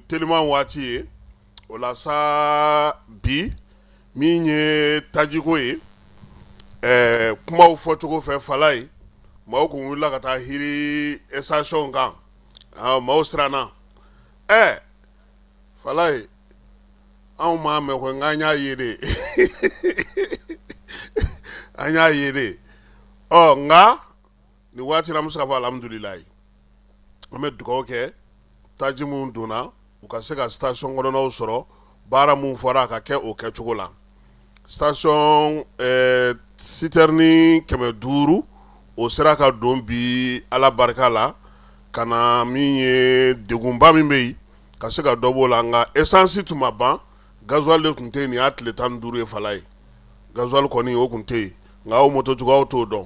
Tilema waati ye o la sa bi min ye tajiko ye ɛɛ kumaw fɔcogo fɛ fala ye maaw kun wulila ka taa girin station kan maaw siranna ɛɛ fala ye anw m'a mɛn ko nka an y'a ye de an y'a ye de ɔ nka nin waati an bɛ se ka fɔ alihamudulilayi an bɛ dugawu kɛ taji min donna u ka se ka station kɔnɔnaw sɔrɔ baara min fɔra a ka kɛ o kɛcogo la station citerne kɛmɛ duuru o sera ka don bi ala barika la ka na min ye degunba min bɛ yen ka se ka dɔ b'o la nka esansi tun ma ban gasoil de tun tɛ yen nin y'a tile tan duuru ye fala ye gasoil kɔni o tun tɛ yen nka aw mototigiw t'o dɔn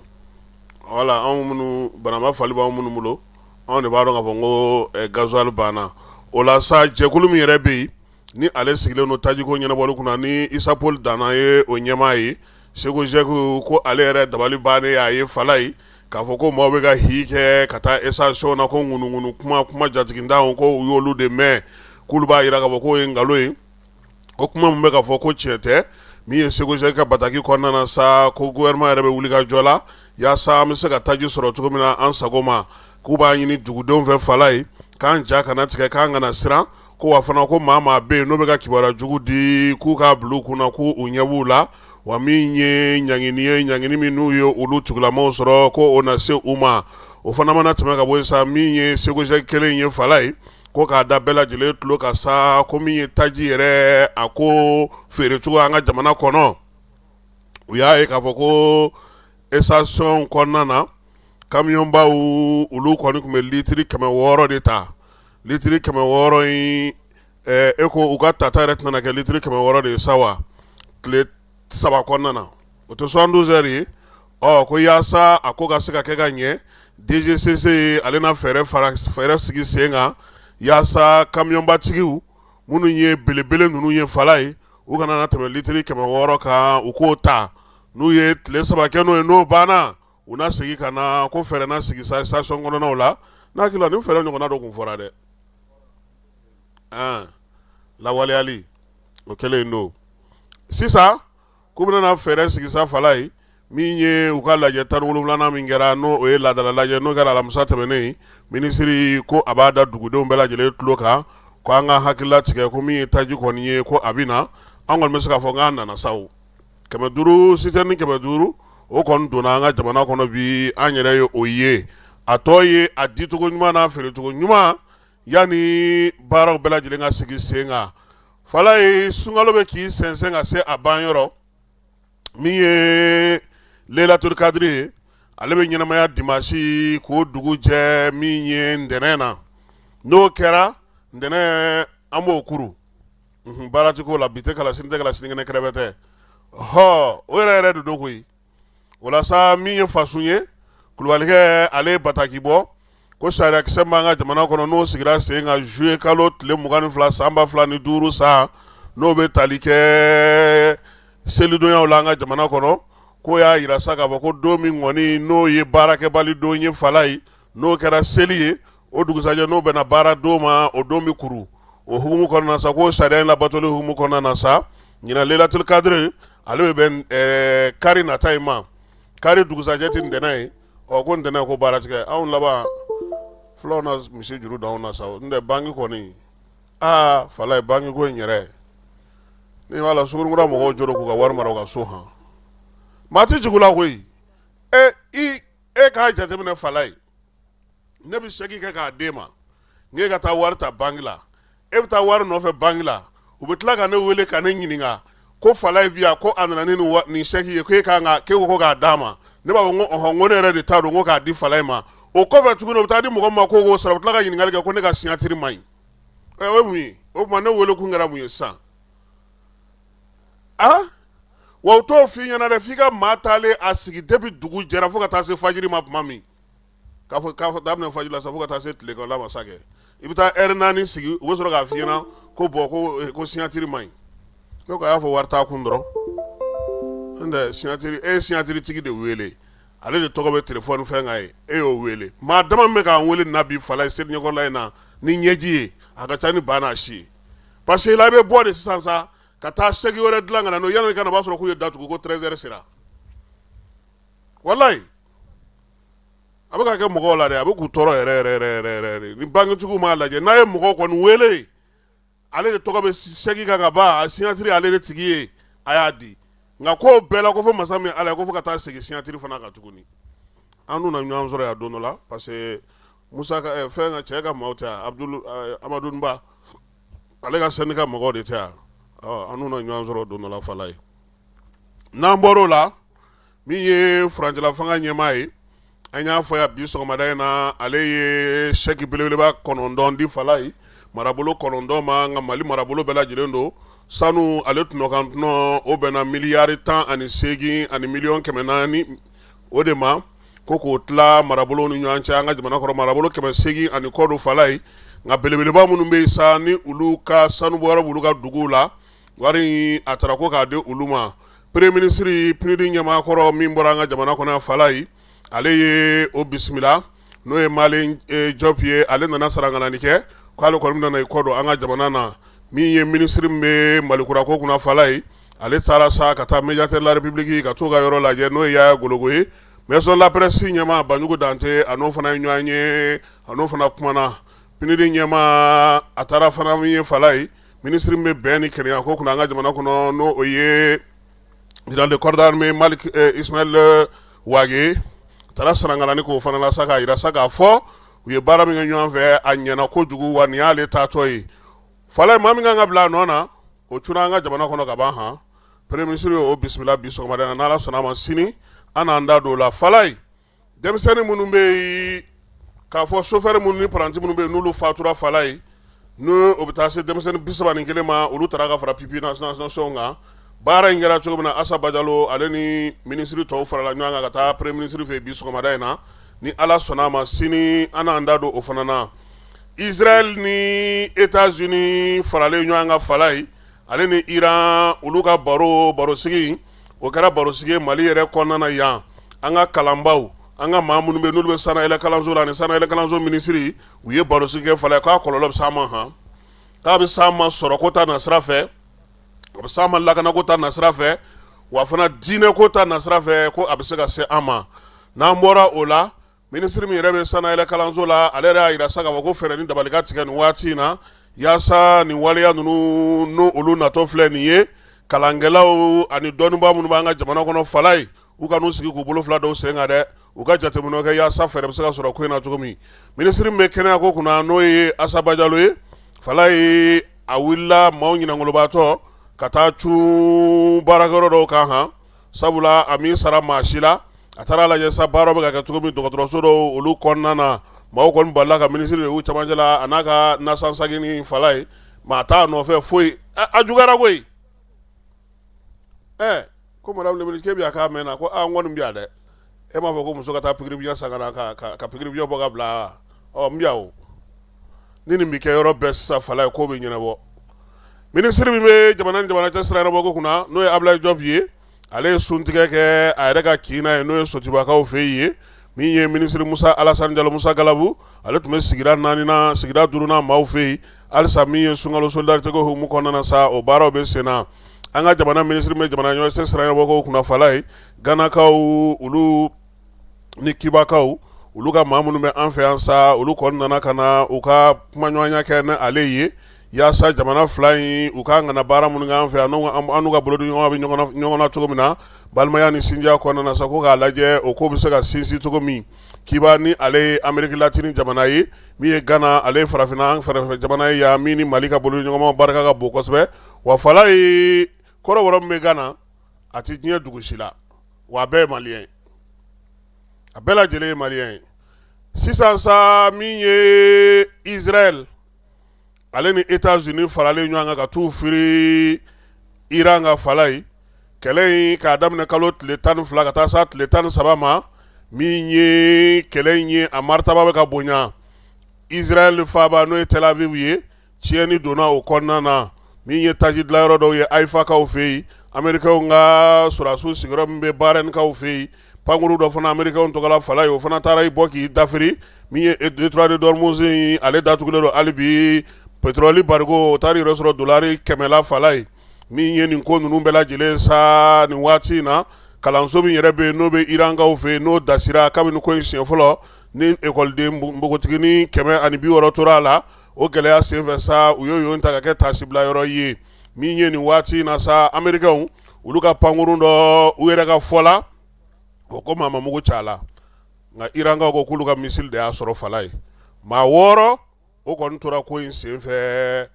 wala anw minnu banama fali b' anw minnu bolo anw de b'a dɔn k'a fɔ n ko gasoil banna o la sa jɛkulu min yɛrɛ bɛ yen ni ale sigilen don tajiko ɲɛnabɔli kunna ni Issa Raoul Dana ye o ɲɛmaa ye CECOGEC ko ale yɛrɛ dabali bannen a ye fala ye k'a fɔ ko maaw bɛ ka hi kɛ ka taa station na ko ŋunuŋunu kuma kuma jatigintan ko u y'olu de mɛn k'olu b'a jira k'a fɔ k'o ye nkalon ye o kuma min bɛ ka fɔ ko tiɲɛ tɛ min ye CECOGEC ka bataki kɔnɔna na sa ko gouvernement yɛrɛ bɛ wuli ka jɔ la yaasa an bɛ se ka taji sɔrɔ cogo min na an sago ma k'u b'a ɲini dugudenw fɛ fala ye k'an ja kana tigɛ k'an kana siran ko wa fana ko maa maa bɛ yen n'o bɛ ka kibaruya jugu di k'u k'a bila u kun na k'u ɲɛ b'u la wa min ye ɲangini ye ɲangini min n'u ye olu tugulamaw sɔrɔ ko o na se u ma o fana mana tɛmɛ ka bɔ yen sa min ye CECOGEC kelen ye fala ye ko k'a da bɛɛ lajɛlen tulo kan sa ko min ye taji yɛrɛ a ko feere cogo an ka jamana kɔnɔ u y'a ye k'a fɔ ko station kɔnɔna na kamiyɔnbaw olu kɔni tun bɛ litiri kɛmɛ wɔɔrɔ de ta litiri kɛmɛ wɔɔrɔ in e ko u ka tata yɛrɛ tɛna kɛ litiri kɛmɛ wɔɔrɔ de ye sa wa tile saba kɔnɔna o tɛ soixante-douze heures ye ɔ ko yaasa a ko ka se ka kɛ ka ɲɛ DGCC ye ale na fɛɛrɛ fɛɛrɛ sigi sen kan yaasa kamiyɔnbatigiw minnu ye belebele ninnu ye fala ye u kana na tɛmɛ litiri kɛmɛ wɔɔrɔ kan u k'o ta n'u ye tile saba kɛ n'o ye n'o banna u na segin ka na ko fɛɛrɛ na sigi station kɔnɔnaw la n hakili la nin fɛɛrɛ ɲɔgɔnna dɔ tun fɔra dɛ lawaleyali o kɛlen don sisan k'u bɛna fɛɛrɛ sigi fala ye min ye u ka lajɛ tan ni wolonwulanan min kɛra n'o ye laadala lajɛ n'o kɛra alamisa tɛmɛnen minisiri ko a b'a da dugudenw bɛɛ lajɛlen tulo kan ko an ka hakili latigɛ ko min ye taji kɔni ye ko a bɛ na an kɔni bɛ se k'a fɔ n' nana sa kɛmɛ duuru sitɛrini kɛmɛ duuru o kɔni donna an ka jamana kɔnɔ bi an yɛrɛ ye o ye a tɔ ye a dicogo ɲuman n'a feerecogo ɲuman yanni baaraw bɛɛ lajɛlen ka sigi sen kan falayi sunkalo bɛ k'i sɛnsɛn ka se a banyɔrɔ min ye lelaturu kadiri ye ale bɛ ɲɛnamaya dimasi k'o dugujɛ min ye ntɛnɛn na n'o kɛra ntɛnɛn an b'o kuru baara ti k'o la bi tɛ kalan sini tɛ kalan sinikɛnɛ kɛrɛfɛ tɛ ɔ o yɛrɛ yɛrɛ de don koyi o la sa min ye fasun ye kulubalikɛ ale ye bataki bɔ ko sariyakisɛ b'an ka jamana kɔnɔ n'o sigira sen kan zuye kalo tile mugan ni fila san ba fila ni duuru san n'o bɛ tali kɛ selidonyaw la an ka jamana kɔnɔ k'o y'a yira sa k'a fɔ ko don min kɔni n'o ye baarakɛbali don ye falayi n'o kɛra seli ye o dugusajɛ n'o bɛnna baaradon ma o don bɛ kuru o hukumu kɔnɔna sa ko sariya in labatoli hukumu kɔnɔna na sa ɲinan lelatu kadiri ale bɛ bɛn kari nata in ma kari dugusajɛ tɛ ntɛnɛn ye ɔ ko ntɛnɛn ko baara ti kɛ anw laban fula na misi juru da anw na sa n tɛ banki kɔni aa falayi bankiko in yɛrɛ n b'a la suguninkura mɔgɔw jo k'u ka wari mara u ka so hɔn maa tɛ jugu la koyi e i e k'a jateminɛ falayi ne bɛ sɛki kɛ k'a d'e ma k'e ka taa wari ta banki la e bɛ taa wari nɔfɛ banki la u bɛ tila ka ne wele ka ne ɲininka ko falayi bi yan ko a nana ni nin sɛki ye k'e ko k'a d'a ma ne b'a fɔ ko ko ne yɛrɛ de ta don ko k'a di falayi ma o kɔfɛ tuguni u bɛ taa di mɔgɔ ma ko k'o sara u bɛ tila ka ɲininkali kɛ ko ne ka siɲatiri ma ɲi o ye mun ye o tuma ne wele kun kɛra mun ye sisan Wa u t'o f'i ɲɛna dɛ f'i ka maa taalen a sigi depi dugu jɛra fo ka taa se fajiri ma tuma min k'a fɔ daminɛ fajiri la sa fo ka taa se tilegan ma sa i bɛ taa ɛri naani sigi u bɛ sɔrɔ k'a f'i ɲɛna ko bɔn ko siɲatiri ma ɲi a y'a fɔ wari t'a kun dɔrɔn e ye siɲatiritigi de wele ale de tɔgɔ bɛ telefɔni fɛn kan ye e y'o wele maa dama min bɛ k'an wele nin na bi falayi seli ɲɛkɔrɔla in na ni ɲɛji ye a ka ca ni ba n'a si ye parce que la i bɛ bɔ de sisan sa ka taa sɛki wɛrɛ dilan ka na n'o ye yanni i ka na o b'a sɔrɔ k'u ye datugu ko tɛrɛzɛri sera walayi a bɛ ka kɛ mɔgɔw la dɛ a bɛ k'u tɔɔrɔ yɛrɛ yɛrɛ yɛrɛ yɛrɛ yɛrɛ de ni bankitigiw m'a lajɛ n'a ye mɔgɔ kɔni wele ale de tɔgɔ bɛ sɛki kan ka ban a siɲatiri ale de tigi ye a y'a di nka ko bɛɛ la ko fɔ masa min ala ye ko fo ka taa segin siɲatiri fana kan tuguni an dun na ɲɔgɔn sɔrɔ yan don dɔ la parce que musa eh, fɛn ka cɛ ka maaw tɛ eh, amadu ba ale ka sanni ka mɔgɔw de tɛ yan an na ɲɔgɔn sɔrɔ don dɔ la fala ye n'an bɔr'o la min ye furancɛla fanga ɲɛmaa ye an y'a fɔ yan bi sɔgɔmada in na ale ye sɛki belebeleba kɔnɔntɔn di fala ye marabolo kɔnɔntɔn ma nka mali marabolo bɛɛ lajɛlen don sanu ale tɔnɔ kan tɔnɔ o bɛnna miliyari tan ani seegin ani miliyɔn kɛmɛ naani o de ma ko k'o tila marabolo ni ɲɔgɔn cɛ an ka jamana kɔrɔ marabolo kɛmɛ seegin ani kɔ don fala ye nka belebeleba minnu bɛ yen sa ni olu ka sanubɔyɔrɔ b'olu ka dugu la wari a taara ko k'a di olu ma peremiye minisiri pinidi ɲɛmaakɔrɔ min bɔra an ka jamana kɔnɔ fala ye ale ye o bisimila n'o ye malɛyi jɔpu ye ale nana sarangani kɛ k'ale kɔni nana i kɔ don an ka jamana na min ye minisiri min bɛ malikura ko kunna fala ye ale taara sa ka taa médiateur de la république ka t'o ka yɔrɔ lajɛ n'o ye yaya gologo ye maison de la presse ɲɛmaa banjugu dante a n'o fana ye ɲɔgɔn ye a n'o fana kumana pinidi ɲɛmaa a taara fana min ye fala ye minisiri min bɛ bɛn ni kelenya ko kunna an ka jamana kɔnɔ n'o o ye général de corps d'armée isimayɛli wage taara sarangani k'o fana la sa k'a yira sa k'a fɔ u ye baara min kɛ ɲɔgɔn fɛ a ɲɛna kojugu wa nin y'ale taatɔ ye Fala ye maa min kan ka bila a nɔ na o cunna an ka jamana kɔnɔ ka ban han peremiye minisiri y'o bisimila bi sɔgɔmada in na n' ala sɔnna a ma sini an n'an da don o la fala ye denmisɛnnin minnu bɛ yen k'a fɔ sofɛri minnu ni paranti minnu bɛ yen n'olu fatura fala ye n'o o bɛ taa se denmisɛnnin bisaban ni kelen ma olu taara ka fara pupilles de la nation kan baara in kɛra cogo min na asa bajalo ale ni minisiriri tɔw farala ɲɔgɔn kan ka taa peremiye minisiri fɛ bi sɔgɔmada in na ni ala sɔnna a ma sini an n'an da don o fana na Israɛl ni Etats Unis faralen ɲɔgɔn kan fala ye, ale ni Iran olu ka baro barosigi in, o kɛra barosigi ye Mali yɛrɛ kɔnɔna na yan, an ka kalanbaaw, an ka maa minnu bɛ yen n'olu bɛ sanayɛlɛkalanso la ani sanayɛlɛkalanso minisiri, u ye barosigi kɛ fala ye k'a kɔlɔlɔ bɛ s'an ma han, k'a bɛ s'an ma sɔrɔko ta nasira fɛ, a bɛ s'an ma lakanako ta nasira fɛ, wa fana diinɛko ta nasira fɛ ko a bɛ se ka se an ma, n'an bɔra o la Minisiri min yɛrɛ bɛ sanayɛlɛ kalanso la ale yɛrɛ y'a yira sa k'a fɔ ko fɛɛrɛ ni dabali ka tigɛ nin waati in na yaasa nin waleya ninnu n' olu natɔ filɛ nin ye kalankɛlaw ani dɔnnibaa minnu b'an ka jamana kɔnɔ fala ye u kan'u sigi k'u bolo fila da u sen kan dɛ u ka jateminɛ kɛ yaasa fɛɛrɛ bɛ se ka sɔrɔ ko in na cogo min minisiri min bɛ kɛnɛya ko kunna n'o ye asa bajalo ye fala ye a wulila maaw ɲinakolobaatɔ ka taa cun baarakɛyɔrɔ dɔw kan sabula a m'i sara maa si la a taara lajɛ sa baara bɛ ka kɛ cogo min dɔgɔtɔrɔso dɔw olu kɔnɔna na maaw kɔni balala ka minisiri de y'u camancɛ la a n'a ka nasansaki ni fala ye maa t'a nɔfɛ foyi ɛ, a juguyara koyi ɛ ko madame le ministre k'e bɛ yan k'a mɛnna ko aa n kɔni bɛ yan dɛ E m'a fɔ ko muso ka taa pikiri biyɛ san ka pikiri biyɛ bɔ ka bila miyanw ni nin bɛ kɛ yɔrɔ bɛɛ sa fala ye k'o bɛ ɲɛnabɔ minisiri min bɛ jamana ni jamana cɛ sira ɲɛnabɔ kunna n'o ye Ablaye Diop ye ale ye sun tigɛ kɛ a yɛrɛ ka kin na yen n'o ye sotubakaw fɛ yen min ye minisiri Musa Alassane Diallo musa gabu ale tun bɛ sigida naaninan sigida duurunan maaw fɛ yen halisa min ye sunkalo solidarité hukumu kɔnɔna na sa o baaraw bɛ sen na an ka jamana minisiri min bɛ jamana ɲɔgɔn cɛ sira ɲɛnabɔ kunna fala ye ganakaw olu ni kibakaw olu ka maa minnu bɛ an fɛ yan sa olu kɔni nana ka na u ka kumaɲɔgɔnya kɛ ni ale ye yaasa jamana fila in u ka kan ka baara minnu kɛ an fɛ yan an ka bolodiɲɔgɔn bɛ ɲɔgɔn na cogo min na balimaya ni sinjiya kɔnɔna na sa ko k'a lajɛ o ko bɛ se ka sinsin cogo min kiba ni ale ye Amérique latine jamana ye min ye gana ale ye farafinna fɛɛrɛfɛ jamana ye yan min ni mali ka bolodiɲɔgɔnma barika ka bon kosɛbɛ wa fala ye kɔrɔbɔrɔ min bɛ gana a tɛ diɲɛ dugu si la wa a bɛɛ ye maliyɛn ye a bɛɛ lajɛlen ye maliyɛn ye sisan sa min ye Israël ale ni États-Unis faralen ɲɔgɔn kan ka t'u firi Iran kan fala ye kɛlɛ in k'a daminɛ kalo tile tan ni fila ka taa sa tile tan ni saba ma min ye kɛlɛ in ye a maritaba bɛ ka bonya Israël faaba n'o ye Tel Aviv ye Tiɲɛni donna o kɔnɔna na min ye taji dilayɔrɔ dɔw ye Haïfakaw fɛ yen, Américains ka sɔrɔdasiw sigiyɔrɔ min bɛ Bahrainkaw fɛ yen, pankurun dɔ fana Américains tɔgɔla fala ye, o fana taara i bɔ k'i dafiri min ye détroit d'Ormuz in ale datugulen don hali bi petrɔli barigo o taara i yɛrɛ sɔrɔ dolari kɛmɛ la fala ye min ye nin ko ninnu bɛɛ lajɛlen sa nin waati in na kalanso min yɛrɛ bɛ yen n'o bɛ Irankaw fɛ yen n'o dasira kabini ko in siɲɛ fɔlɔ ni ekɔliden npogotiginin kɛmɛ ani bi wɔɔrɔ tora a la o gɛlɛya senfɛ sa u y'o ta ka kɛ tasibila yɔrɔ ye min ye nin waati in na sa amerikɛnw olu ka pankurun dɔ u yɛrɛ ka fɔ la o ko maa ma mugu ci a la nka irankaw ko k'olu ka misili de y'a sɔrɔ fala ye maa wɔɔrɔ o kɔni tora ko in senfɛ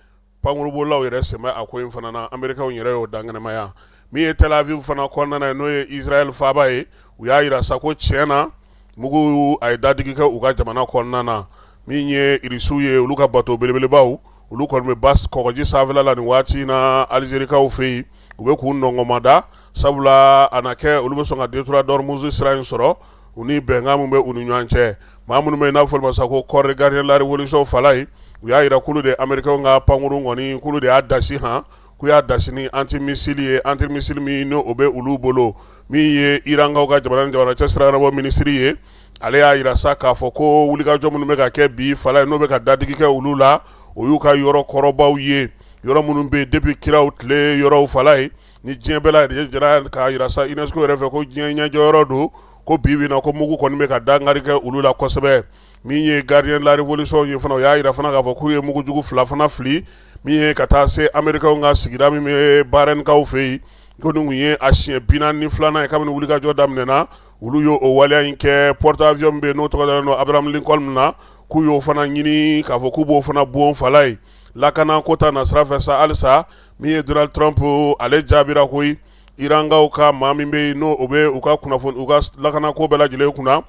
pankurunbolilaw yɛrɛ sen bɛ a ko in fana na amerikɛnw yɛrɛ y'o dankɛnɛmaya min ye Tel Aviv fana kɔnɔna ye n'o ye Israël faaba ye u y'a jira sa ko tiɲɛ na mugu a ye dadigi kɛ u ka jamana kɔnɔna na min ye irisiw ye olu ka bato belebelebaw olu kɔni bɛ kɔgɔji sanfɛla la nin waati in na alizerikaw fɛ yen u bɛ k'u nɔngɔnmada sabula a na kɛ olu bɛ sɔn ka détroit d'Ormuz sira in sɔrɔ u ni bɛnkan min bɛ u ni ɲɔgɔn cɛ maa minnu bɛ n'a fɔ olu ma sa ko corps des gardiens de la révolution fala ye u y'a jira k'olu de amerikɛnw ka pankurun kɔni k'olu de y'a dasi h k'u y'a dasi ni antimisili ye antimisili min n'o bɛ olu bolo min ye irankaw ka jamana ni jamana cɛ sira ɲɛnabɔ minisiri ye ale y'a jira sa k'a fɔ ko wulikajɔ minnu bɛ ka kɛ bi fala ye n'o bɛ ka dadigi kɛ olu la o y'u ka yɔrɔ kɔrɔbaw ye yɔrɔ minnu bɛ yen depuis kiraw tile yɔrɔw fala ye ni diɲɛ bɛɛ lajɛra k'a jira sa UNESCO yɛrɛ fɛ ko diɲɛ ɲɛjɔ yɔrɔ don ko bi bi na ko mugu kɔni bɛ ka dankari kɛ olu la kosɛbɛ min ye gardien de la révolution ye fana o y'a jira fana k'a fɔ k'u ye mugujugu fila fana fili min ye ka taa se américains ka sigida min bɛ Barɛnkaw fɛ yen ko nin tun ye a siɲɛ bi naani ni filanan ye kabini wulikajɔ daminɛna olu y'o o waleya in kɛ porte avion min bɛ yen n'o tɔgɔ dalen don Abraham Lincoln na k'u y'o fana ɲini k'a fɔ k'u b'o fana bon fala ye lakana ko ta na sira fɛ sa halisa min ye Donald Trump ale jaabira koyi Irankaw ka maa min bɛ yen n'o o bɛ u ka kunnafoni u ka lakanako bɛɛ lajɛlen kunna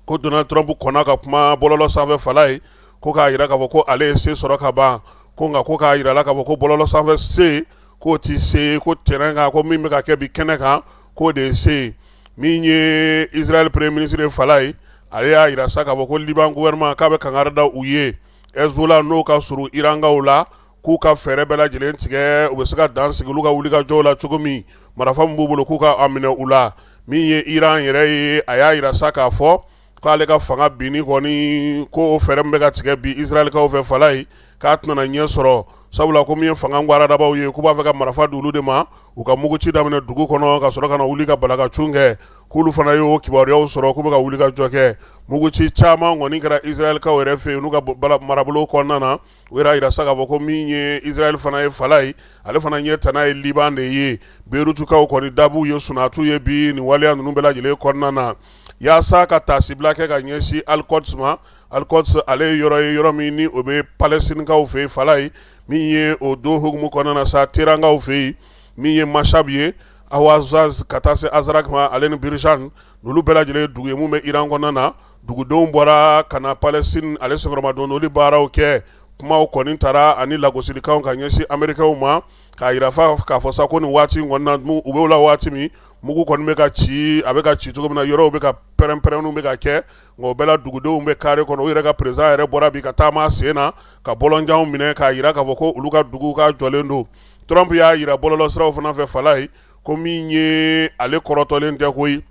ko Donald Trump kɔnna ka kuma bɔlɔlɔ sanfɛ fala ye ko k'a jira k'a fɔ ko ale ye se sɔrɔ ka ban ko nka ko k'a jira la k'a fɔ ko bɔlɔlɔ sanfɛ se k'o tɛ se ko terrain kan ko min bɛ ka kɛ bi kɛnɛ kan k'o de ye se min ye Israɛl premier ministre ye fala ye ale y'a jira sa k'a fɔ ko liban gouvernement k'a bɛ kangari da u ye Hezbollah n'o ka surun irankaw la k'u ka fɛɛrɛ bɛɛ lajɛlen tigɛ u bɛ se ka dan sigi olu ka wulikajɔ la cogo min marifa min b'u bolo k'u k'a minɛ u la min ye iran yɛrɛ ye a y'a jira sa k'a fɔ k'ale ka fanga binni kɔni ko fɛɛrɛ min bɛ ka tigɛ bi Israɛlikaw fɛ fala ye k'a tɛna ɲɛ sɔrɔ sabula ko min ye fanga gadabaw ye k'u b'a fɛ ka marifa di olu de ma u ka mugu ci daminɛ dugu kɔnɔ ka sɔrɔ ka wuli ka balakacun kɛ k'olu fana y'o kibaruyaw sɔrɔ k'u bɛ ka wulikajɔ kɛ mugu ci caman kɔni kɛra Israɛlikaw yɛrɛ fɛ yen n'u ka marabolo kɔnɔna na u y'a jira sa k'a fɔ ko min ye Israɛl fana ye fala ye, ale fana ɲɛ tana ye Liban de ye, Beirutkaw kɔni dabu ye sunatu ye bi nin waleya ninnu bɛɛ lajɛlen kɔnɔna na. Yaasa ka taasibila kɛ ka ɲɛsin Al-Quds ma, Al-Quds ale ye yɔrɔ ye yɔrɔ min ni o bɛ Palɛstinikaw fɛ yen, fala ye, min ye o don hukumu kɔnɔna na sa Teherankaw fɛ yen, min ye Mashhad ye, Ahwazaz ka taa se Azraq ma, ale ni Birjand, n'olu bɛɛ lajɛlen ye dugu ye minnu bɛ Iran kɔnɔna na. dugudenw bɔra ka na Palestine ale sɔgɔma don olu baaraw kɛ kumaw kɔni taara ani lagosilikanw ka ɲɛsin amerikaw ma k'a jira k'a fɔ sa ko nin waati u bɛ o la waati min mugu kɔni bɛ ka ci a bɛ ka ci cogo min na yɔrɔw bɛ ka pɛrɛn pɛrɛnniw bɛ ka kɛ nka o bɛɛ la dugudenw bɛ kare kɔnɔ u yɛrɛ ka président yɛrɛ bɔra bi ka taama sen na ka bɔlɔnjanw minɛ k'a jira k'a fɔ ko olu ka dugu k'a jɔlen don Trump y'a jira bɔlɔlɔ siraw fana fɛ fala ye ko min ye ale kɔrɔtɔlen tɛ koyi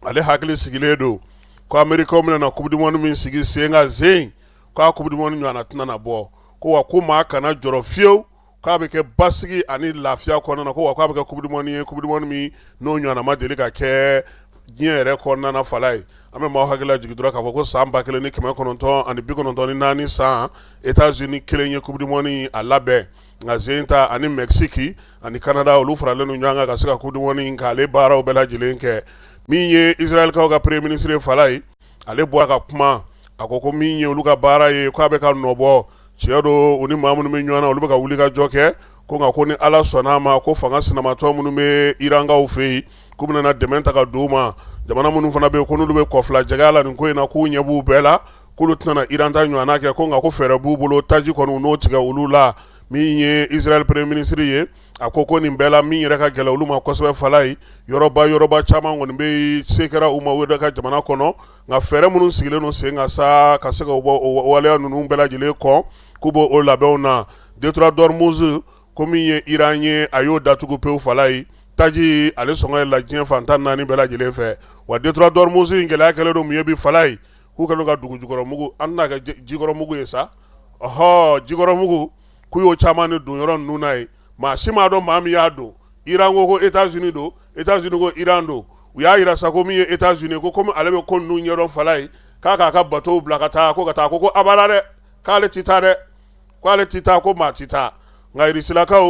ale hakili sigilen don ko amerikaw bɛna na coupe du monde min sigi sen kan juin k'a coupe du monde ɲɔgɔnna tɛna na bɔ ko wa ko maa kana jɔrɔ fiyewu k'a bɛ kɛ basigi ani lafiya kɔnɔna na ko wa k'a bɛ kɛ coupe du monde ye coupe du monde min n'o ɲɔgɔnna ma deli ka kɛ diɲɛ yɛrɛ kɔnɔna na fala ye an bɛ maaw hakili lajigin dɔrɔn k'a fɔ ko san ba kelen ni kɛmɛ kɔnɔntɔn ani bi kɔnɔntɔn ni naani san Etats-Unis kelen ye coupe du monde a labɛn nka sen ta ani mɛsiki ani kanada olu faralen don ɲɔgɔn kan ka se ka coupe du monde ka ale baaraw bɛɛ lajɛlen kɛ min ye israɛlikaw ka premier ministre fala ye ale bɔra ka kuma a ko ko min ye olu ka baara ye k' a bɛ ka nɔbɔ tiɲɛ don u ni maa minnu bɛ ɲɔgɔn na olu bɛ ka wuli ka jɔ kɛ ko nka ko ni ala sɔnna a ma ko fanga sinamatɔ minnu bɛ irankaw fɛ yen k'u bɛna dɛmɛ ta ka di u ma jamana minnu fana bɛ yen ko n'olu bɛ kɔfilajɛgɛya la nin ko in na k'u ɲɛ b'u bɛɛ la k'olu tɛna iran ta ɲɔgɔn kɛ ko nka ko fɛɛrɛ b'u bolo taji kɔni u n'o tigɛ olu la min ye izrael premier ministre ye a ko ko nin bɛɛ la min yɛrɛ ka gɛlɛn olu ma kosɛbɛ fala ye yɔrɔba yɔrɔba caman kɔni bɛ se kɛra u ma u yɛrɛ ka jamana kɔnɔ nka fɛɛrɛ minnu sigilen don sen kan sa ka se ka o waleya ninnu bɛɛ lajɛlen kɔ k'u b'o labɛnw na détroit d'Ormuz ko min ye iran ye a y'o datugu pewu fala ye taji ale sɔngɔ yɛlɛla diɲɛ fan tan naani bɛɛ lajɛlen fɛ wa détroit d'Ormuz in gɛlɛya kɛlen don mun ye bi fala ye k'u kɛlen don ka dugu jukɔrɔ mugu, an tɛna kɛ jikɔrɔ mugu ye sa, ɔhɔ, jikɔrɔ mugu k'u y'o caman de don yɔrɔ ninnu na yen, maa si m'a dɔn maa min y'a don, Iran ko ko Etats Unis don, Etats Unis ko Iran don, u y'a jira sa ko min ye Etats Unis ye ko komi ale bɛ ko ninnu ɲɛdɔn fala ye, k'a k'a ka bateaux bila ka taa, ko ka taa, a ko ko abada dɛ, k'ale tɛ taa dɛ. Ko ale tɛ taa ko maa tɛ taa nka Irisilakaw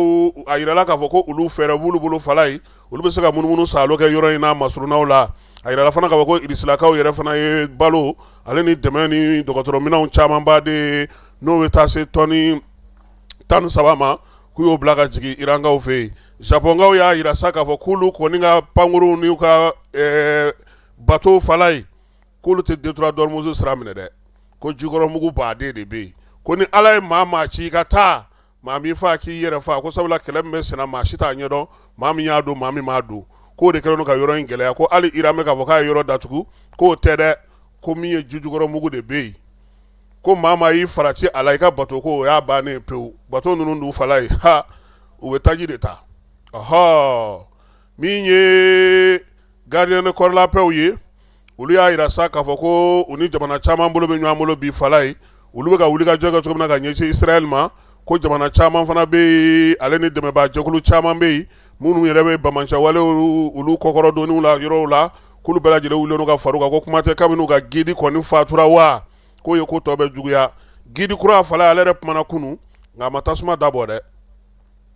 a jirala k'a fɔ ko olu fɛɛrɛ b'olu bolo fala ye olu bɛ se ka munumunu saalo kɛ yɔrɔ in na masurunnaw la a jirala fana k'a fɔ ko Irisilakaw yɛrɛ fana ye balo ale ni dɛmɛ ni dɔgɔtɔrɔminɛnw camanba de ye n'o bɛ taa se tɔni tan ni saba ma k'u y'o bila ka jigin Irankaw fɛ yen Japɔnkaw y'a jira sa k'a fɔ k'olu kɔni ka pankurunw n'u ka bato fala ye k'olu tɛ détroit d'Ormuz sira minɛ dɛ, ko jikɔrɔmugu baaden de bɛ yen, ko ni Ala ye maa o maa ci i ka taa, maa m'i faa k'i yɛrɛ faa, ko sabula kɛlɛ min bɛ senna maa si t'a ɲɛdɔn, maa min y'a don, maa min m'a don, k'o de kɛlen don ka yɔrɔ in gɛlɛya, ko hali Iran bɛ k'a fɔ k'a ye yɔrɔ datugu, k'o tɛ dɛ, ko min ye jijukɔrɔmugu de bɛ yen, ko maa o maa y'i farati a la, i ka bato ko o y'a bannen ye pewu, bato ninnu dun fala ye, ha, u bɛ taji de ta, ɔhɔɔ, min ye gardien de corps la paix ye olu y'a jira sa k'a fɔ ko u ni jamana caman bolo bɛ ɲɔgɔn bolo bi fala ye olu bɛ ka wuli ka jɔ kɛ cogo min na ka ɲɛsin Israɛl ma ko jamana caman fana bɛ yen ale ni dɛmɛbaa jɛkulu caman bɛ yen minnu yɛrɛ bɛ banbaanciwalew olu kɔkɔrɔdonniw la yɔrɔw la k'olu bɛɛ lajɛlen wulilen don ka far'u kan ko kuma tɛ kabini u ka gidi kɔni fatura wa k'o ye ko tɔ bɛɛ juguya gidi kura fala ale yɛrɛ kumana kunun nka a ma tasuma dabɔ dɛ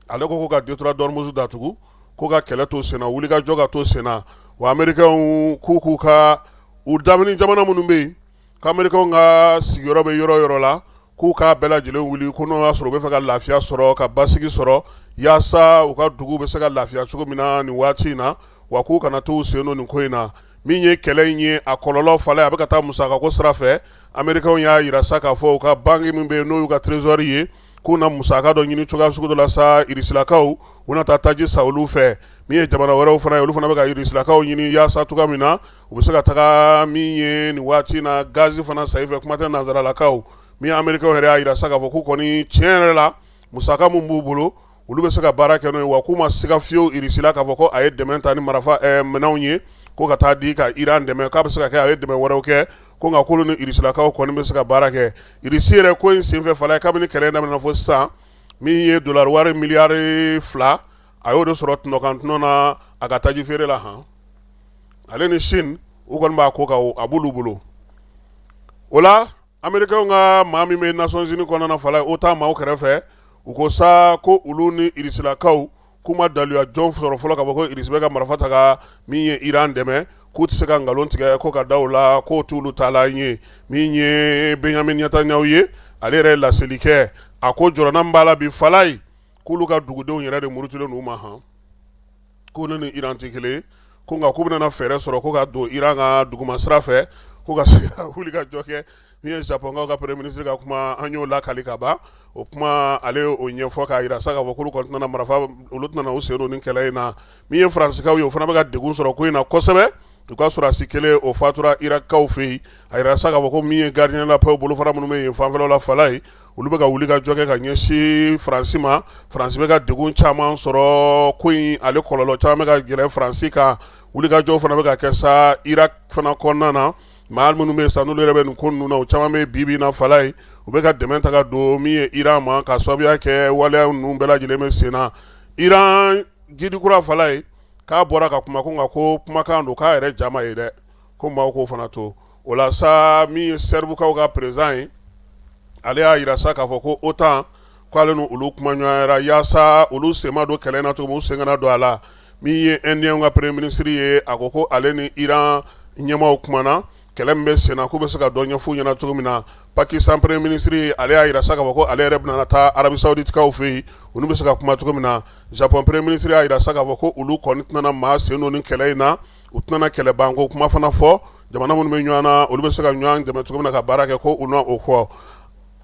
ale ko ko ka détroit d'Ormuz datugu ko ka kɛlɛ to senna wuli ka jɔ ka to senna wa amerikɛnw k'u ka u lamini jamana minnu bɛ yen k'amerikɛnw ka sigiyɔrɔ bɛ yɔrɔ yɔrɔ la k'u k'a bɛɛ lajɛlen wuli ko n'o y'a sɔrɔ u bɛ fɛ ka lafiya sɔrɔ ka basigi sɔrɔ yaasa u ka dugu bɛ se ka lafiya cogo min na nin waati in na wa k'u kana to sen don nin ko in na min ye kɛlɛ in ye a kɔlɔlɔ fala a bɛ ka taa musakako sira fɛ ameriki y'a jira sa k'a fɔ u ka banki min bɛ yen n'o y'u ka trésor ye k'u na musaka dɔ ɲini cogoya sugu dɔ la sa irisilakaw u na taa taji san olu fɛ min ye jamana wɛrɛw fana ye olu fana bɛ ka irisilakaw ɲini yaasa cogoya min na u bɛ se ka taga min ye nin waati in na gazi fana san i fɛ kuma tɛ nanzaralakaw min ye amerikɛnw yɛrɛ y'a jira sa k'a fɔ k'u kɔni tiɲɛ yɛrɛ la musaka min b'u bolo olu bɛ se ka baara kɛ n'o ye wa k'u ma siga fiyewu Russie la k'a fɔ ko a ye dɛmɛn ta ni marafa ɛ minɛnw ye ko ka taa di ka Iran dɛmɛn k'a bɛ se ka kɛ a ye dɛmɛn wɛrɛw kɛ ko nka k'olu ni Russielakaw kɔni bɛ se ka baara kɛ Russie yɛrɛ ko in senfɛ fala ye kabini kɛlɛ daminɛna fo sisan min ye dolari wari miliyari fila a y'o de sɔrɔ tɔnɔ kan tɔnɔ na a ka taji feere la han ale ni Chine u kɔni b'a ko kan a b'olu bolo o la Amerikɛnw ka maa min bɛ Nations Unies kɔnɔna fala ye OTAN maaw kɛrɛfɛ u ko sa ko olu ni irisilakaw k'u ma daluya jɔn sɔrɔ fɔlɔ k'a fɔ ko Irisi bɛ ka marifa ta ka min ye iran dɛmɛ k'u tɛ se ka nkalon tigɛ ko ka da u la k'o t'olu taalan ye min ye Benjamin Netanyahu ye ale yɛrɛ ye laseli kɛ a ko jɔrɔna min b'a la bi fala ye k'olu ka dugudenw yɛrɛ de murutilen n'u ma ko ne ni Iran tɛ kelen ye, ko nka k'u bɛna fɛɛrɛ sɔrɔ ko ka don Iran ka duguma sira fɛ, ko ka se ka wulikajɔ kɛ min ye Japɔnkaw ka premier ministre ka kuma an y'o lakali ka ban, o kuma ale y'o ɲɛfɔ k'a jira sa k'a fɔ k'olu kɔni tɛna marifa, olu tɛna u sen don nin kɛlɛ in na min ye Faransikaw ye, o fana bɛ ka degun sɔrɔ ko in na kosɛbɛ, u ka sɔrɔdasi kelen o fatura Irakikaw fɛ yen, a jirala sa k'a fɔ ko min ye gardien de la paix bolofara minnu bɛ yen fanfɛlaw la fala ye olu bɛ ka wulikajɔ kɛ ka ɲɛsin faransi ma faransi bɛ ka degun caman sɔrɔ ko in ale kɔlɔlɔ caman bɛ ka gɛrɛ faransi kan wulikajɔ fana bɛ ka kɛ sa Irak fana kɔnɔna na maa minnu bɛ yen sa n'olu yɛrɛ bɛ nin ko ninnu na o caman bɛ bi bi in na fala ye u bɛ ka dɛmɛ ta don min ye iran ma ka sababuya kɛ waleya ninnu bɛɛ lajɛlen bɛ sen na iran guide kura fala ye k'a bɔra ka kuma ko nka ko kumakan don k'a yɛrɛ ja ma ye dɛ ko maaw k'o fana to o la sa min ye serbikaw ka président ye ale y'a jira sa k'a fɔ ko OTAN k'ale ni olu kumaɲɔgɔnyara yaasa olu sen ma don kɛlɛ in na cogo min u sen kana don a la min ye Inde ka premier ministre ye a ko ko ale ni iran ɲɛmaaw kumana kɛlɛ min bɛ sen na k'u bɛ se ka dɔ ɲɛf'u ɲɛna cogo min na Pakistan premier ministre ale y'a jira sa k'a fɔ ko ale yɛrɛ bɛna taa Arabie Saouditekaw fɛ yen olu bɛ se ka kuma cogo min na Japon premier ministre y'a jira sa k'a fɔ ko olu kɔni tɛna maa sen don nin kɛlɛ in na u tɛna kɛlɛ banko kuma fana fɔ jamana minnu bɛ ɲɔgɔn na olu bɛ se ka ɲɔgɔn dɛmɛ cogo min na ka baara kɛ ko u na o fɔ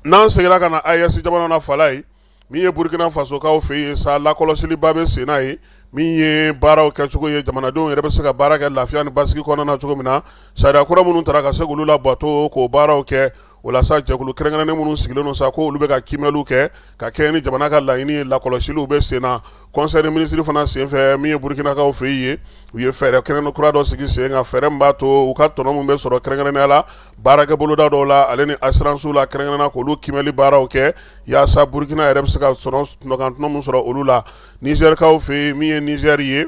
n'an seginna ka na AES jamana na fala ye min ye burukina fasokaw fɛ yen sa lakɔlɔsiliba bɛ senna ye min ye baaraw kɛcogo ye jamanadenw yɛrɛ bɛ se ka baara kɛ lafiya ni basigi kɔnɔna na cogo min na sariya kura minnu taara ka se k'olu labato k'o baaraw kɛ walasa jɛkulu kɛrɛnkɛrɛnnen minnu sigilen don sa ko olu bɛ ka kiimɛliw kɛ ka kɛɲɛ ni jamana ka laɲini lakɔlɔsiliw bɛ sen na conseil des ministres fana senfɛ min ye burukinakaw fɛ yen ye u ye fɛɛrɛ kɛnɛ kura dɔ sigi sen kan fɛɛrɛ min b'a to u ka tɔnɔ min bɛ sɔrɔ kɛrɛnkɛrɛnnenya la baarakɛ boloda dɔw la ale ni assurances la kɛrɛnkɛrɛnnenya k'olu kiimɛli baaraw kɛ yaasa burukina yɛrɛ bɛ se ka tɔnɔ min sɔrɔ olu la nizɛrikaw fɛ yen min ye nizɛri ye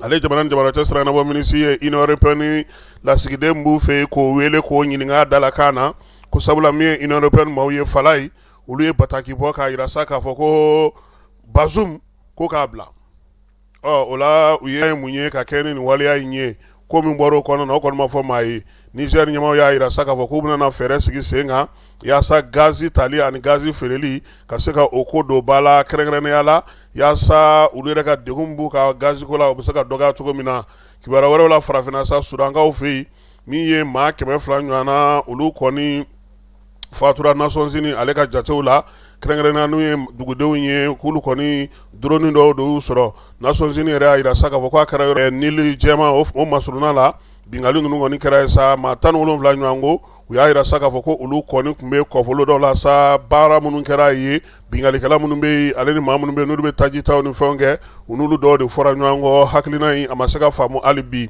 ale jamana ni jamana cɛ siranabɔ minisiri ye Union européenne lasigiden b'u fɛ yen k'o wele k'o ɲininka dalakan na ko sabula min ye Union européenne maaw ye Falaye olu ye bataki bɔ k'a jira sa k'a fɔ ko Bazoum ko k'a bila ɔ o la u ye mun ye ka kɛ ni nin waleya in ye ko min bɔra o kɔnɔna na o kɔni ma fɔ maa ye Niger ɲɛmaaw y'a jira sa k'a fɔ k'u bɛna fɛɛrɛ sigi sen kan yaasa gaz tali ani gaz feereli ka se ka o ko don ba la kɛrɛnkɛrɛnnenya la yaasa olu yɛrɛ ka degun min b'u kan gaz ko la o bɛ se ka dɔgɔya cogo min na kibaruya wɛrɛw la farafinna sa Sudankaw fɛ yen min ye maa kɛmɛ fila ɲɔgɔnna olu kɔni fatura Nations Unies ale ka jatew la kɛrɛnkɛrɛnnenya n'u ye dugudenw ye k'olu kɔni drone dɔw de y'u sɔrɔ Nations Unies yɛrɛ y'a jira sa k'a fɔ k'a kɛra yɔrɔ Nili jɛman o masurunna la bingali ninnu kɔni kɛra ye sa maa tan ni wolonwula ɲɔgɔn ko u y'a jira sa k'a fɔ ko olu kɔni tun bɛ kɔfolo dɔ la sa baara minnu kɛra ye binkalikɛla minnu bɛ yen ale ni maa minnu bɛ yen n'olu bɛ tajita ni fɛn kɛ u n'olu dɔw de fɔra ɲɔgɔn kɔ hakilina in a ma se ka faamumu hali bi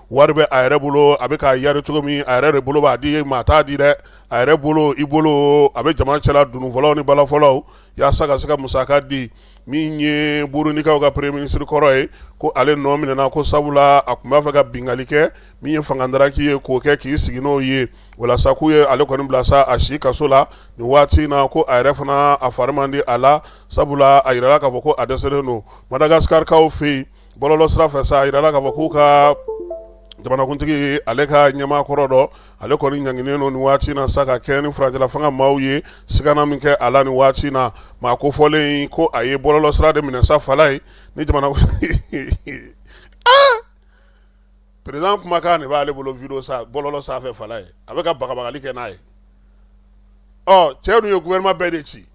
wari bɛ a yɛrɛ bolo a bɛ k'a yari cogo min a yɛrɛ de bolo b'a di maa t'a di dɛ a yɛrɛ bolo i bolo a bɛ jama cɛla dununfɔlaw ni balafɔlaw yaasa ka se ka musaka di min ye burundikaw ka premier ministre kɔrɔ ye ko ale nɔ minɛna ko sabula a tun b'a fɛ ka bingali kɛ min ye fanga dara k'i ye k'o kɛ k'i sigi n'o ye walasa k'u ye ale kɔni bila sa a si kaso la nin waati in na ko a yɛrɛ fana a fari man di a la sabula a jirala k'a fɔ ko a dɛsɛlen don madagasikarikaw fɛ yen bɔlɔlɔ sira fɛ sa a jirala k'a fɔ k'u ka jamanakuntigi ale ka ɲɛmaa kɔrɔ dɔ ale kɔni ɲanginen don nin waati na sa ka kɛɲɛ ni furancɛla fanga maaw ye sigana min kɛ a la nin waati na maa kofɔlen ko a ye bɔlɔlɔ sira de minɛ sa Falaye ni président kumakan de b'ale bolo vidéo sa bɔlɔlɔ sanfɛ Falaye a bɛ ka bagabagali kɛ n'a ye ɔ cɛ dun ye gouvernement bɛɛ de ci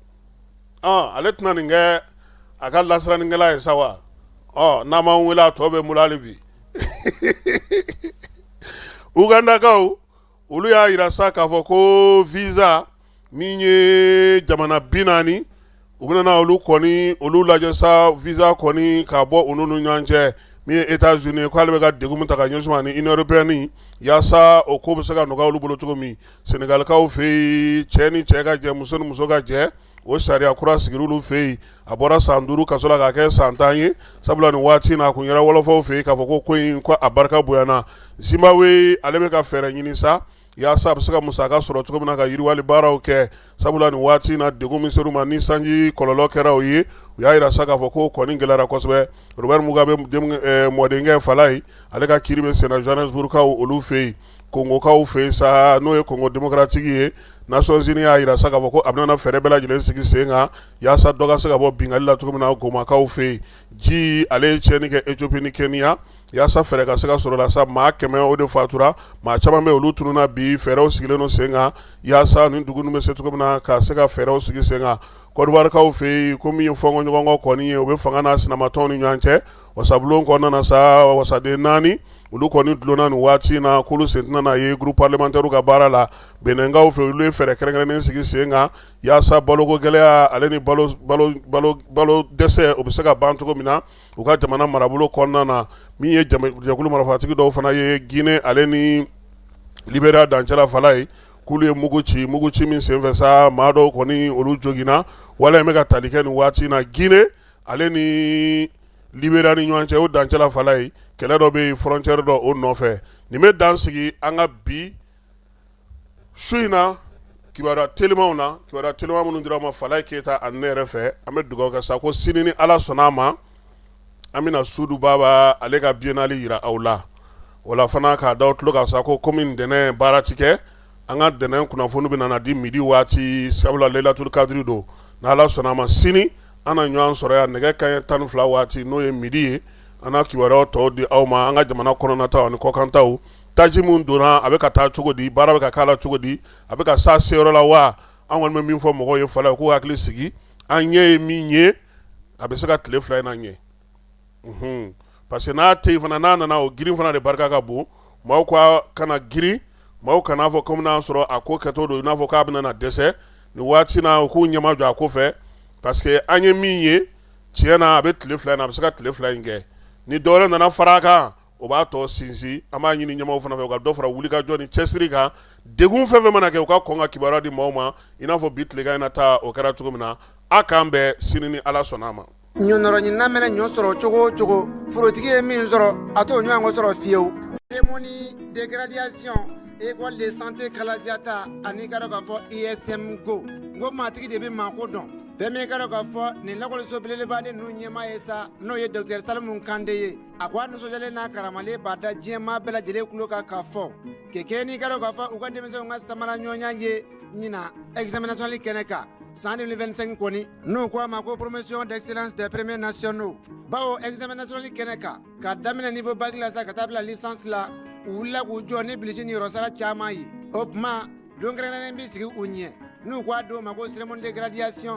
ale tɛna nin kɛ a ka lasirannikɛla ye sa wa n'a ma wele a tɔ bɛ n bolo hali bi ugandakaw olu y'a jira sa k'a fɔ ko visa min ye jamana bi naani u bɛna olu kɔni olu lajɛ sa visa kɔni ka bɔ olu ni ɲɔgɔn cɛ min ye États-Unis ye k'ale bɛ ka degun min ta ka ɲɛsin u ma ani Union européenne yaasa o ko bɛ se ka nɔgɔya olu bolo cogo min Senegalikaw fɛ yen cɛ ni cɛ ka jɛ muso ni muso ka jɛ o sariya kura sigir'olu fɛ yen a bɔra san duuru kaso la k'a kɛ san tan ye sabula nin waati in na a kun yɛrɛ wɔlɔfɔw fɛ yen k'a fɔ ko ko in ko a barika bonyana Zimbabwe ale bɛ ka fɛɛrɛ ɲini sa yaasa a bɛ se ka musaka sɔrɔ cogo min na ka yiriwali baaraw kɛ sabula nin waati in na degun min ser'u ma ni sanji kɔlɔlɔ kɛra o ye u y'a yira sa k'a fɔ ko kɔni gɛlɛyara kosɛbɛ Robert Mugabe mɔdenkɛ Falaye ale ka kiiri bɛ sen na Johannesburgkaw olu fɛ yen Kongokaw fɛ sa n'o ye Kongo démocratique ye Nations Unies y'a yira sa k'a fɔ ko a bɛna fɛɛrɛ bɛɛ lajɛlen sigi sen kan yaasa dɔ ka se ka bɔ bingali la cogo min na Gomakaw fɛ yen ji ale ye tiɲɛni kɛ Ethiopie ni Kenya yaasa fɛɛrɛ ka se ka sɔrɔ la sa maa kɛmɛ o de fatura maa caman bɛ olu tununna bi fɛɛrɛw sigilen don sen kan yaasa nin dugu ninnu bɛ se cogo min na ka se ka fɛɛrɛw sigi sen kan Côte d'Ivoirekaw fɛ yen ko min ye fɔɲɔgɔnkɔ kɔni ye o bɛ fanga n'a sinamatɔn ni ɲɔgɔn cɛ wasabulon kɔnɔna sa wasaden naani olu kɔni dulonna nin waati in na k'olu sen tɛna na ye groupe parlementaire ka baara la Beninkaw fɛ olu ye fɛɛrɛ kɛrɛnkɛrɛnnen sigi sen kan yaasa baloko gɛlɛya ale ni balo dɛsɛ o bɛ se ka ban cogo min na u ka jamana marabolo kɔnɔna na min ye jɛkulu marafatigi dɔw fana ye ginɛ ale ni Libéria dancɛ la Falaye k'olu ye mugu ci mugu ci min senfɛ sa maa dɔw kɔni olu joginna wala in bɛ ka tali kɛ nin waati in na ginɛ ale ni Libéria ni ɲɔgɔn cɛ o dancɛ la Falaye kɛlɛ dɔ bɛ frontière dɔ o nɔfɛ nin bɛ dan sigi an ka bi su in na kibaruya telimanw na kibaruya teliman minnu dir'aw ma Falaye Keyita ani ne yɛrɛ fɛ an bɛ dugawu kɛ sa ko sini ni ala sɔnna a ma an bɛna Sudu Baba ale ka biennale yira aw la wala fana k'a da aw tulo kan sa ko kɔmi ntɛnɛn baara tɛ kɛ an ka ntɛnɛn kunnafoni bɛna na di midi waati sabula Lailatul Kadiri don n'Ala sɔnna a ma sini an na ɲɔgɔn sɔrɔ yan nɛgɛ kanɲɛ tan ni fila waati n'o ye midi ye an na kibaruya tɔw di aw ma an ka jamana kɔnɔnataw ani kɔkantaw taji min donna a bɛ ka taa cogo di baara bɛ ka k'a la cogo di a bɛ ka s'a seyɔrɔ la wa an kɔni bɛ min fɔ mɔgɔw ye fɔlɔ k'u hakili sigi an ɲɛ ye min ye a bɛ se ka tile fila in na ɲɛ parce que n'a tɛ yen fana n'a nana o girin fana de barika ka bon maaw ka kana girin maaw kan'a fɔ kɔmi y'a sɔrɔ a ko kɛtɔ don i n'a fɔ k'a bɛna dɛsɛ nin waati na u k'u ɲɛmajɔ a ko fɛ parce que an ye min ye tiɲɛ na a bɛ tile fila in na a bɛ se ka tile fila in kɛ ni dɔwɛrɛ nana fara a kan o b'a tɔ sinsin an b'a ɲini ɲɛmaaw fana fɛ u ka dɔ fara wulikajɔ ni cɛsiri kan degun fɛn fɛn mana kɛ u ka kɔn ka kibaruya di maaw ma i n'a fɔ bi tilegan in na ta o kɛra cogo min na a k'an bɛn sini ni ala sɔnna a ma ɲɔnɔrɔɲinina mɛna ɲɔ sɔrɔ cogo o cogo forotigi ye min sɔrɔ a t'o ɲɔgɔn sɔrɔ fiyewu cérémonie de graduation école de santé kalajata an'i ka dɔn k'a fɔ ism go n ko maatigi de bɛ maako dɔn fɛn min ka dɔn k'a fɔ nin lakɔliso belebeleba de ninnu ɲɛmaa ye sa n'o ye dɔkitɛri salimu kante ye a ko a nisɔndiyalen n'a karamalen b'a da diɲɛmaa bɛɛ lajɛlen tulo kan k'a fɔ kɛ kɛ n'i ka dɔn k'a fɔ u ka denmisɛnw ka samara ɲɔgɔnya ye ɲina examen national kɛnɛ kan San defɛnsen kɔni n'o ko a ma ko poromosiyon de selenlensipme nasion'o baw ezmɛsonon kɛnɛ kan ka daminɛ ni fɔ basi la sa ka taa bila sansi u la k'u jɔ ni bilisi ninyɔrɔsara caman ye o tuma donkɛrɛnnen bɛ sigi u ɲɛ n'u k' aa di' u ma ko sm de gradisi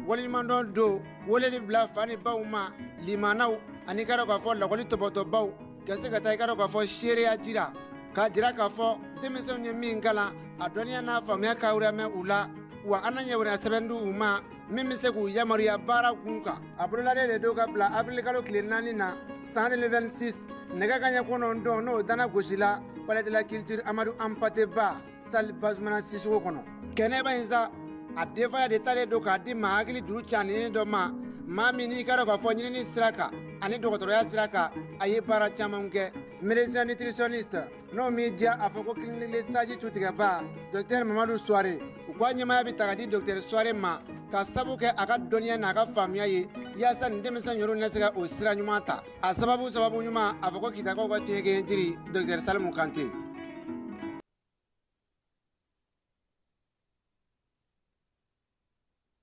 walimadɔ don wali de bila fani baw ma limaw ani kɛra k'a fɔ lakɔli tɔtɔbaw Ka se ka taa i ka dɔn k'a fɔ seereya jira k'a jira k'a fɔ denmisɛnw ye min kalan a dɔnniya n'a faamuya ka mɛn u la wa an na ɲɛ wɛrɛ sɛbɛn di u ma min bɛ se k'u yamaruya baara kun kan a bololaden de don ka bila awirilikalo tile naani na san 2026 nɛgɛ kanɲɛ kɔnɔntɔn n'o dana gosi la palais de la culture amadu hampaté ba salle bazumana sisɔkɔ kɔnɔ kɛnɛba in sa a denfaya de talen don k'a di maa hakili juru caaninen dɔ ma maa min n'i ka dɔn k'a fɔ ɲinini sira kan ani dɔgɔtɔrɔya sira kan a ye baara caman kɛ médecin nutritionniste n'o m'i diya a fɔ ko clinique le sage tutigɛba dɔkitɛri mamadu suware u ko a ɲɛmaya bɛ ta ka di dɔkitɛri suware ma k'a sabu kɛ a ka dɔnniya n'a ka faamuya ye yaasa nin denmisɛn yɔrɔ na se ka o sira ɲuman ta a sababu sababu ɲuman a fɔ ko kitakaw ka tiɲɛ jiri dɔkitɛri salimu kante